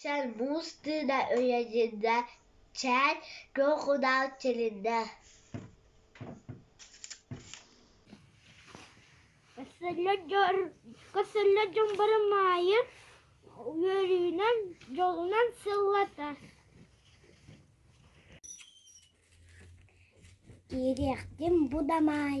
чал муус тыына үйэлиннэ чээн куокунал тилиннэ Кэсэллэр дьон бары Маайы үөрүүнэн дьолунан сыллатар Киириэхтин бу да Маай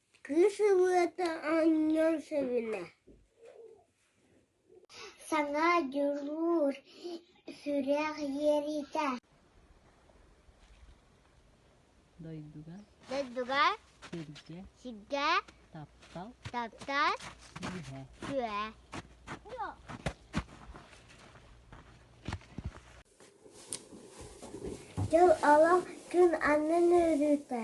Кыыс ырыата оонньуон сөбүлэҥ Саҥа дьулуур сүрэх иэриитэ Дойдуга сиргэ таптал түһэ Дьыл олох күн аннын өрүүтэ